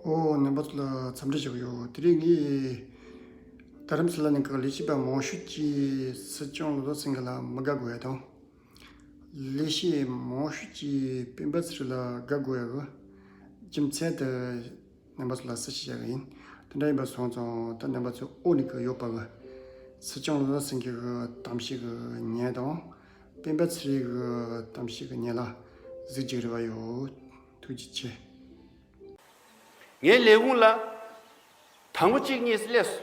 ཨོའོ་ནང་པ་ཚོ་ལ་འཚམས་འདྲི་ཞུ་གི་ཡོད་དེ་རིང་ངས་རྡ་རམ་ས་ལ་ནས་ག་ལེ་ཤེས་པ་མང་ཤོས་ཀྱི་སྲིད་སྐྱོང་ལོ་ཏོག་སེང་གེ་ལ་མི་དགའ་དགོས་དོན། ལེ་ཤེས་མང་ཤོས་ཀྱི་སྤེན་པ་ཚེ་རིང་ལ་དགའ་དགོས་ཡོད། རྒྱུ་མཚན་དེ་ནང་པ་ཚོ་ལ་གསལ་བཤད་བྱ་གི་ཡིན། དེ་འདྲ་ཡིན་པ་སོང་ཙང་ད་ནང་པ་ཚོས་ཨོ་ནི་གི་ཡོད་པ་གི་སྲིད་སྐྱོང་ལོ་ཏོག་སེང་གེ་གི་གཏམ་བཤད་གི་ཉན་དང་སྤེན་པ་ཚེ་རིང་གི་གཏམ་བཤད་གི་ཉན་ལ་གཟིགས་གཅིག་རེ་བ་ཡོད། ཐུགས་རྗེ་ཆེ། ངའི་ལས་ཁུངས་ལ། དང་པོ་གཅིག་གཉིས་སླེ་སོ།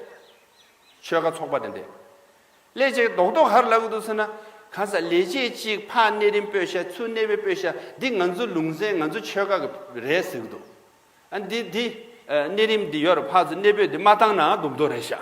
ཆོལ་ཁ་ཚོགས་པ་དེ་འདྲས། སླེ་ཅིག་རྡོག་རྡོག་ཧར་ལ་གི་འདུག་ཟེར་ན། གང་ཟག་ལས་བྱེད་གཅིག་ཕག་གནས་རིན་སྤོད་ཤ་ཆུ་གནས་པའི་སྤོད་ཤ་འདི་ང་ཚོ་ལུང་ཟན་ང་ཚོ་ཆོལ་ཁ་གི་རེད་ཟེར་གི་འདུག། ཨ་འདི་འདི། གནས་རིམ་འདི་ཡོར་ཕག་ཚོ་གནས་སྤོད་འདི་མ་བཏང་ནའང་སྡུག་མདོག་རེད་ཤག།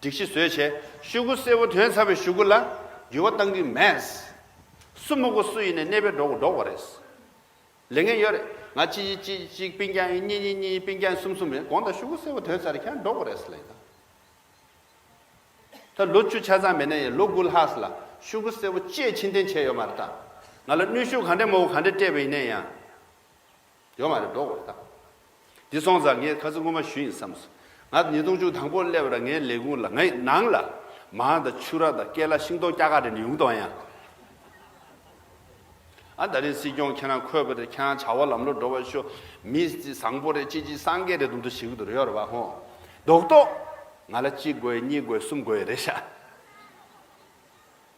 སྒྲིག་གཞི་བཟོས་བྱས་ཤུག་གུ་སེར་བོ་དོན་ཚར་བའི་ཤུག་གུ་ལ་འགྱུར་བ་གཏང་གི་མེད། སུ་མུག་གུ་སུ་ཡིན་ནས་གནས་པའི་འགྲོ་གུ་འགྲོགས་པ་རེད། ལས་ངན་ཡོད་རེད་ང་གཅིག་ཡིན་གཅིག་གཅིག་པིན་ཀྱང་ཡིན་གཉིས་གཉིས་གཉིས་ཡིན་པིན་ཀྱང་ཡིན་གསུམ་གསུམ་ཡིན་གོང་དང་ཤུག་གུ་སེར་བོ་དོན་ཚར་རེད་ཁྱེད་རང་འགྲོགས་པ་རེད་ལ་ཡིན་ན། ད་ལོ་བཅུ་ཆ་ཚང་མེད་ན་ཡང་ལོ་དགུ་ལྷག་ལ་ཤུག་གུ་སེར་བོ་སྤྱད་ཕྱིན་ཐེན་བྱས་ཡོད་མ་རེད་ད། ང་ལ་གནོད་ཤུགས་གང་འདྲའི་མང་བོ་གང་འདྲའི་སྤྲད་པ་ཡིན་ན་ཡང། ཡོད་མ་རེད་འགྲོ་དགོས་རེད་ད། འདི་སོང་ཙང་ངས་ཁ་ཚ་དངུལ་མ་ཞུ་ཡིན་བསམས་སོང། ང་ཉིས་སྟོང་བཅུ་དང་པོར་སླེབས་ར་ངའི་ལས་ཁུངས་ལ་ང་ཡི་ནང་ལ་མང་དང་ཕྱུགས་ར་དང་སྐེ་ལ་ཤིང་སྡོང་སྐྱ་ཀ་རེ་ནི་ཡོང་དོན་ཡང། ཨ་ད་རེས་སྲིད་སྐྱོང་ཁྱེད་རང་འཁོད་པ་རེད་ཁྱེད་རང་བྱ་བ་ལམ་ལོ་འགྲོ་བ་ཤོ་མི་བཟང་པོ་རེད་ཅི་ཅི་སང་གེ་རེད་དུམ་དུ་ཞིག་གི་དུ་རེད་ཡོད་རེད་བ་ཧོན། རྡོག་རྡོག། ང་ལ་གཅིག་དགོས་གཉིས་དགོས་གསུམ་དགོས་རེད་ཤ།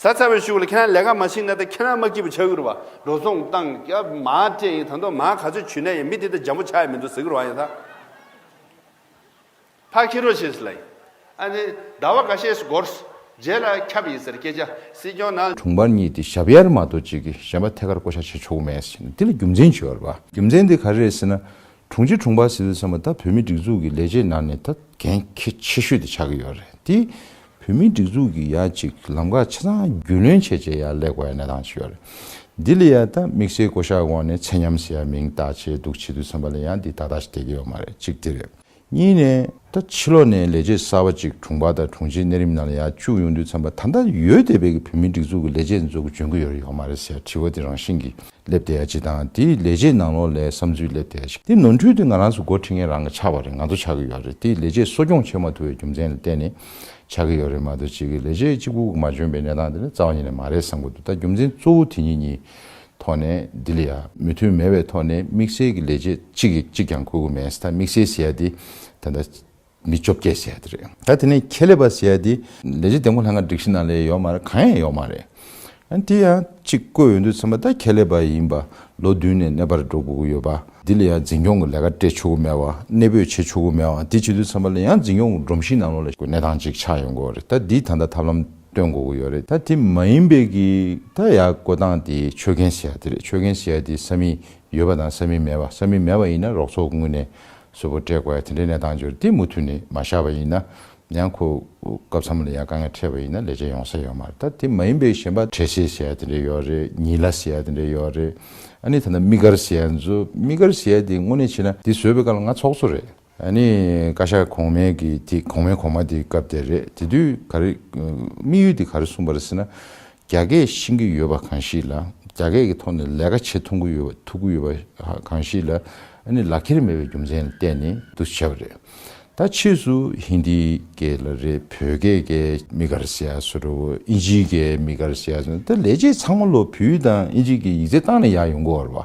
བཟའ་ཚར་བའི་ཤུགས་ལ་ཁྱེད་རང་ལས་ཀ་མ་བྱེད་ན་ད་ཁྱེད་རང་མ་སྐྱིད་པོ་ཆགས་གི་རུ་བ་འགྲོ་སོང་བཏང་སྐྱབས་མ་སྤྲད་ཡིན་ད་མདོ་མ་ག་ཚོད་བྱུས་ན་ཡང་མི་དེ་ད་འཇམ་པོ་ཆགས་ཡི་མི་འདུག་ཟེར་གི་རུ་བ་ཡིན་ད། ཕ་ཁྱི་རོ་ཞེས་ལ་ཡིན་ཨ་ནི་ཟླ་བ་ག་ཤས་སུ་འགོར་སོ་རྗེས་ལ་ཁྱབ་ཡིན་ཟེར་སྐད་ཆ་སྲིད་སྐྱོང་ནང། དྲུང་འཕར་གཉིས་དེ་ཞབས་གཡར་མ་གཏོགས་གཅིག་གིས་གཞན་པ་ཐད་ཀར་བསྐོ་བཞག་བྱེད་ཆོག་གི་མེད་ཟེར་གྱིན་འདི་ལ་རྒྱུ་མཚན་ཇི་ཡོད་རེད་པ། རྒྱུ་མཚན་དེ་ག་རེ་རེད་ཟེར་ན། དྲུང་ཆེ་དྲུང་འཕར་ཟེར་ཟེར་བསམ་པ་ད་བོད་མིའི་སྒྲིག་འཛུགས་ཀྱི་ལས་བྱེད་ནང་ནས་ད་གན་ཁེ་ཆེ་ཤོས་དེ་ཆགས་ཀྱི་ཡོད་རེད་དེ། བོད་མིའི་སྒྲིག་འཛུགས་ཀྱི་ཡ་གཅིག་ལམ་ཁ་ཆ་ཚང་རྒྱུས་ལོན་བྱས་བྱས་ཡ་ལེགས་པ་ཡ་གནས་སྟངས་ཞིག་ཡོད་རེད། འདི་ལ་ཡ་ད་དམིགས་བསལ་བསྐོ་གཞག་འོག་ནས་ཚད་མཉམ་ཟེར་ཡ་མིང་བཏགས་བྱས་འདུག་བྱེད་དུས་བསམ་པ་ལ་ཡ་འདི་ད་ལྟ་ཞིག་བསྡད་ཀྱི་ཡོད་མ་རེད་གཅིག་དེ་རེད། གཉིས་ནས་ད་ཕྱི་ལོག་ནས་ལས་བྱེད་གསར་བ་ཅིག་དྲུང་འཕར་དང་དྲུང་ཆེའི་གནས་རིམ་ནང་ལ་ཡ་བཅུག་ཡོང་དུས་བསམ་པ་ད་ལྟ་ཡོད་བསྡད་པའི་བོད་མིའི་སྒྲིག་འཛུགས་ཀྱི་ལས་བྱེད་འཛོལ་དགོས་འཇོན་དགོས་ཡོད་རེད་ཡོད་མ་རེད་ཟེར་ཡ་དྲི་བ་དེ་རང་བཞིན་གྱིས་སླེབས་བསྡད་ཡ་གཅིག་དང་དེ་ཡི་ལས་བྱེད་ནང་ལོགས་ལས་བསམ་ཚུལ་སླེབས་བསྡད་ཡ་གཅིག་དེ་ནོར་འཁྲུལ་དེ་ང་རང་ཚོ་འགོ་ཁྲིད་མཁན་རང་གི་ཆགས་པ་རེད་ང་ཚོ་ཆགས་ཀྱི་ཡོད་རེད་དེ་ལས་བྱེད་གསོ་སྐྱོང་བྱེད་མ་ཐུབ་པའི་རྒྱུ་མཚན་ལ་བརྟེན་ནས་ཆགས་ཀྱི་ཡོད་རེད་མ་གཏོགས་གཅིག་གིས་ལས་བྱེད་གཅིག་པུ་མ་འཇོན་པའི་གནས་སྟངས་དེ་ནི་རྩ་བ་ཉིད་ནས་མ་རེད་བསམ་གྱི་འདུག་ད་རྒྱུ་མཚན་གཙོ་བོ་དེ་གཉིས་གཉིས་ཐོག་ནས་ལྡི་ལི་ཡ། མོས་མཐུན་མེད་པའི་ཐོག་ནས་དམིགས་བསལ་གྱི་ལས་བྱེད་གཅིག་གིས་གཅིག་ཀྱང་ཁུར་གི་མེད་ད་དམིགས་བསལ་ཟེར་ཡ་དེ་ད་ལྟ། མི་བཅོ་བརྒྱད་བྱས་དེ་རེད། ད་དེ་ནས་ཁྱད་ལས་པ་བྱས་དེ། ལས་བྱེད་འདེམས་བསྐོ་ལྷན་ཁང་སྒྲིག་གཞི་ནང་ལས་ཡོད་མ་རེད་གང་ཡང་ཡོད་མ་རེད། ཨ་དེ་ཡང་ཅིག་བསྐོས་ཡོད་འདུག་ཚང་མ་ད་ཁྱད་ལས་པ་ཡིན་པ་ལོ་བདུན་ནས་གནས་པར་འགྲོ་དགོས་ཀྱི་ཡོད་པ་དེ་ལ་ཡང་འཛིན་སྐྱོང་གི་ལས་ཀ་སྤྲད་ཆོག་གི་མེད་བ་གནས་སྤོས་བྱེད་ཆོག་གི་མེད་བ་དེ་བྱེད་དུས་ཚང་མ་ལ་ཡང་འཛིན་སྐྱོང་གི་སྒྲོམ་གཞིའི་ནང་ལོགས་ལ་གནས་སྟངས་ཅིག་ཆགས་ཡོད་དགོས་རེད་ད་དེ་ད་ལྟ་ཐབས་ལམ་སྟོན་དགོས་ཀྱི་ཡོད་རེད་ད་དེ་མ་ཡིན་པའི་གི་ད་ཡག་བསྐོ་སྟངས་དེ་ཆོད་མཁན་བྱས་དེ་རེད་ཆོད་མཁན་བྱས་དེ་ས་མིག་ཡོད་པ་དང་ས་མིག་མེད་པ་ས་མིག་མེད་པ་ཡིན་ན་རོགས་ཚོགས་དངུལ་ནས་གཟུ་བོ་བཀྲེས་དགོས་དེ་འདྲའི་གནས་སྟངས་འབྱོར་དུས་མུ་མཐུད་ནས་མ་བཞག་པ་ཡིན་ན་ཡང་ཁོ་སྐབས་ཚང་མ་ལ་ཡང་དཀའ་ངལ་འཕྲད་པ་ཡིན་ན་ལས་བྱེད་ཡོང་ས་ཡོད་མ་རེད་ད་དེ་མ་ཡིན་པའི་གཞན་པ་བྲེལ་ཤེད་བྱས་དེ་འདྲའི་ཡོད་རེད་ཉིད་ལ་བྱས་དེ་འདྲའི་ཡོད་རེད་ཨ་ནི་ད་ནི་དམིགས་བཀར་བྱས་མཛོད་དམིགས་བཀར་བྱས་དེ་དངོས་གནས་བྱས་ན་དེ་བཟོས་པའི་སྐབས་ལ་ང་ཚོགས་གཙོ་རེད། ཨ་ནི་བཀའ་ཤག་གོང་མའི་གི་དེ་གོང་མའི་གོང་མ་དེ་སྐབས་དེ་རེད་དེ་དུས་ག་རེ་དམིགས་ཡུལ་དེ་ག་རེ་གསུངས་པ་རེད་ཟེར་ན་རྒྱ་སྐད་ཤེས་ཀྱི་ཡོད་པ་གང་ཞིག་ལ་རྒྱ་སྐད་ཀྱི་ཐོག་ནས་ལས་ཀ་བྱེད་ཐུབ་ཀྱི་ཡོད་པ་གང་ཞིག་ལ་ལག་འཁྱེར་མེད་པའི་རྒྱུ་མཚན་ལ་བརྟེན་ནས་དུ་བྱས་པ་རེད། ད་ཕྱིས་སུ་ཧིན་དིའི་སྐད་ལ་རེད་བོད་སྐད་ཀྱི་མི་དགར་ཟེར་ཡག་སོ་རེད་ཨིན་ཇིའི་སྐད་མི་དགར་ཟེར་ཡག་སོ་རེད་ད་ལས་བྱེད་ཚང་མ་ལོ་བུའི་དང་ཨིན་ཇིའི་སྐད་ཡིག་ཚད་བཏང་ནས་ཡག་ཡོང་གི་ཨོ་རེད་བ།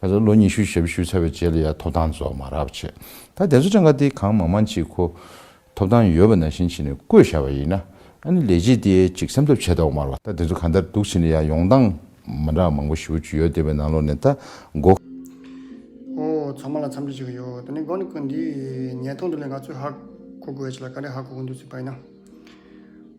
ཁ་སང་ལོ་ཉི་ཤུའི་ཞབས་ཞུ་ཚར་བའི་རྗེས་ལ་ཡང་ཐོབ་ཐང་རྫོགས་མ་རག་བྱས། ད་དེ་ཚོ་གྲངས་ཀ་དེའི་གང་མང་མང་ཅིག་ཁོ། ཐོབ་ཐང་ཡོད་པ་ནང་བཞིན་བྱས་ནས་བསྐོས་བཞག་པ་ཡིན། ཨ་ནི་ལས་བྱེད་དེའི་ཅིག་བསམ་ཐབས་བྱས་ཐོག་མར་ལ་ད་དེ་ཚོ་གང་ལྟར་འདུག་བྱས་ནས་ཡང་ཡོང་སྟངས་མ་འདྲ་བ་མང་པོ་ཞིབ་བོ་བྱུས་ཡོད་དེ་བས་ནང་ལོགས་ནས་ད་མགོ། ཨོ་ཚང་མ་ལ་འཚམས་འདྲི་བྱེད་ཀྱི་ཡོད་ད་ནི་མགོ་ནས་ཀུན་འདིའི་ཉལ་ཐོག་འདི་ལས་ང་ཚོས་ཧ་གོ་དགོས་བྱས་ལ་ག་རེ་ཧ་གོ་གི་འདུག་ཚུལ་བལྟ་ན།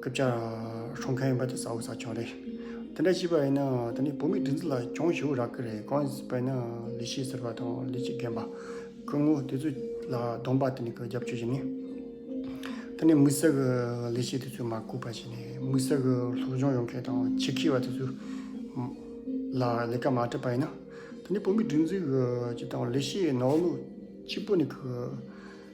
སྐུ་བཅར་ཧྲོང་ཁ་ཡིན་པ་དེ་ས་འོག་ས་ཆུང་རེད། དེ་འདྲ་ཞིག་པ་ཡིན་ན་དེ་ནི་བོད་མི་སྒྲིག་འཛུགས་ལ་གྱོང་ཞུ་རག་གི་རེད་གང་ཡིན་པ་ཡིན་ན་ལི་ཤི་ཟེར་བ་དང་ལི་ཅི་རྒན་པ་སྐུ་ངོ་དེ་ཚོ་ལ་གདོང་པ་དེ་ནི་གི་རྒྱབ་ཆོས་ཞིག་ནི། དེ་ནི་དམིགས་བསལ་གི་ལི་ཤི་དེ་ཚོས་མ་བསྐུལ་བ་ཞིག་ནི་དམིགས་བསལ་གི་སློབ་སྦྱོང་ཡོང་མཁན་དང་ཆེ་ཁེ་བ་དེ་ཚོས་ལ་ལས་ཀ་མ་སྤྲད་པ་ཡིན་ན་དེ་ནི་བོད་མི་སྒྲིག་འཛུགས་ཀྱི་དང་ལི་ཤི་ནོར་ལུག་གཅིག་པོ་ནི་གི།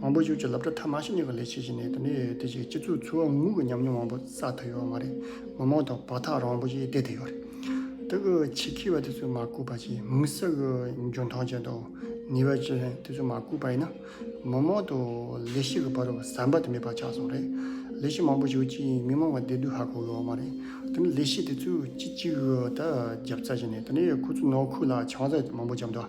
མང་པོ་ཞིག་ཆུ་རླབས་དྲོད་ཐ་མ་ཞིག་ཉོ་གི་ལས་བྱེད་བཞིན་ནས་དེ་ནས་དེ་བཞིན་སྤྱི་ཚོགས་འཚོ་བ་དངོས་ཀྱི་ཉམས་མྱོང་མང་པོ་བསགས་ཐུབ་ཡོད་མ་རེད། མི་མང་དང་བར་ཐག་རིང་པོ་ཞིག་བསྡད་ཐུབ་ཡོད་རེད། ད་གི་ཆེད་ཁེ་བ་དེ་ཚོས་མ་བཀུག་པ་ཅིས་མི་ས་གི་འཇོན་ཐང་ཅན་དང་ནུས་པ་ཅན་དེ་ཚོས་མ་བཀུག་པ་ཡིན་ན། མི་མང་དུ་ལས་ཤིག་གི་བར་ཟམ་པ་དེ་མེད་པ་ཆགས་སོང་རེད། ལས་ཤིག་མང་པོ་ཞིག་ཅིས་མི་མང་བ་བསྡད་དུས་ཧ་གོ་ཡོད་མ་རེད། དེ་ནི་ལས་ཤིག་དེ་ཚོས་ཅི་ཅིག་ད་རྒྱབ་རྩ་བྱས་ནས་དེ་ནས་ཁོ་ཚོའི་ནང་ཁུལ་ལ་ཆང་རྩ་མང་པོ་བཅབ་འདུག།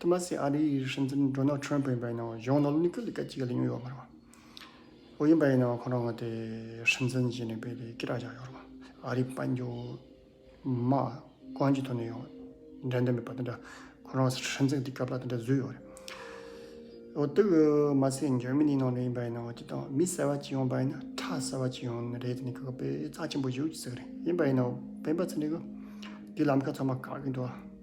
ཐུ་མ་སི་ཨ་རི་ཡིས་ཧྲིན་ཙིན་མགྲོན་ནག་ཁྲོན་བོད་ཡིན་པ་ཡིན་ནའང་གཞུང་ནོར་ལུག་གི་ལི་ཀ་ཅིག་ག་ལེ་ཉོས་ཡོད་མ་རེད་བ། བོད་ཡིན་པ་ཡིན་ནའང་ཁོ་རང་ངོ་དེ་ཧྲིན་ཙིན་ཞེས་ནས་བོད་དེ་ཀི་རག་བཞག་ཡོད་རེད་བ། ཨ་རིའི་དཔལ་འབྱོར་མ་ཀོན་གྱི་ཐོག་ནས་ཡང་འགྲན་ཟླ་མེད་པ་དེ་འདྲ་ཁོ་རང་ཧྲིན་ཙིན་གི་སྐབས་ལ་དེ་འདྲ་བཟོས་ཡོད་རེད། འོ་དེ་གི་མ་ཟད་འཇར་མི་ནིའི་ནང་ནས་ཡིན་པ་ཡིན་ནའང་དེ་དང་མི་གསལ་བ་ཅིག་ཡོང་པ་ཡིན་ན་ཁྲ་གསལ་བ་ཅིག་ཡོང་རེད་དེ་ནི་གི་གི་དཔེ་རྩ་ཆེན་པོ་བཞུགས་ཀྱི་ཟིག་རེད་ཡིན་པ་ཡིན་ནའང་བོད་པ་ཚོ་ནི་གི་དེའི་ལམ་ཁ་ཚང་མ་བཀག་གི་འདུག་བ།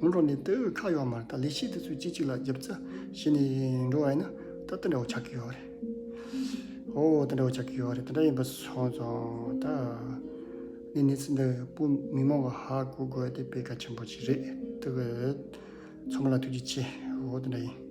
སྔོན་འགྲོ་ནས་ལྟེ་བའི་ཁ་གཡོག་མར་ད་ལས་ཤེས་དེ་ཚོས་གཅིག་གཅིག་ལ་རྒྱབ་རྩ་བྱེད་ནས་འགྲོ་བ་ཡིན་ན་ད་དེ་འདྲ་བོ་ཆགས་ཀྱི་ཡོད་རེད། ཨོ་དེ་འདྲ་བོ་ཆགས་ཀྱི་ཡོད་རེད་དེ་འདྲ་ཡིན་པ་སོང་ཙང་ད་ནི་གནས་ཚུལ་འདི་སྤུ་མི་མང་བོ་ཧ་གོ་དགོས་དེ་དཔེ་གལ་ཆེན་པོ་ཞིག་རེད་དེ་བས་ཚང་མ་ལ་ཐུགས་རྗེ་ཆེ་ཨོ་དེ་འདྲ་ཡིན།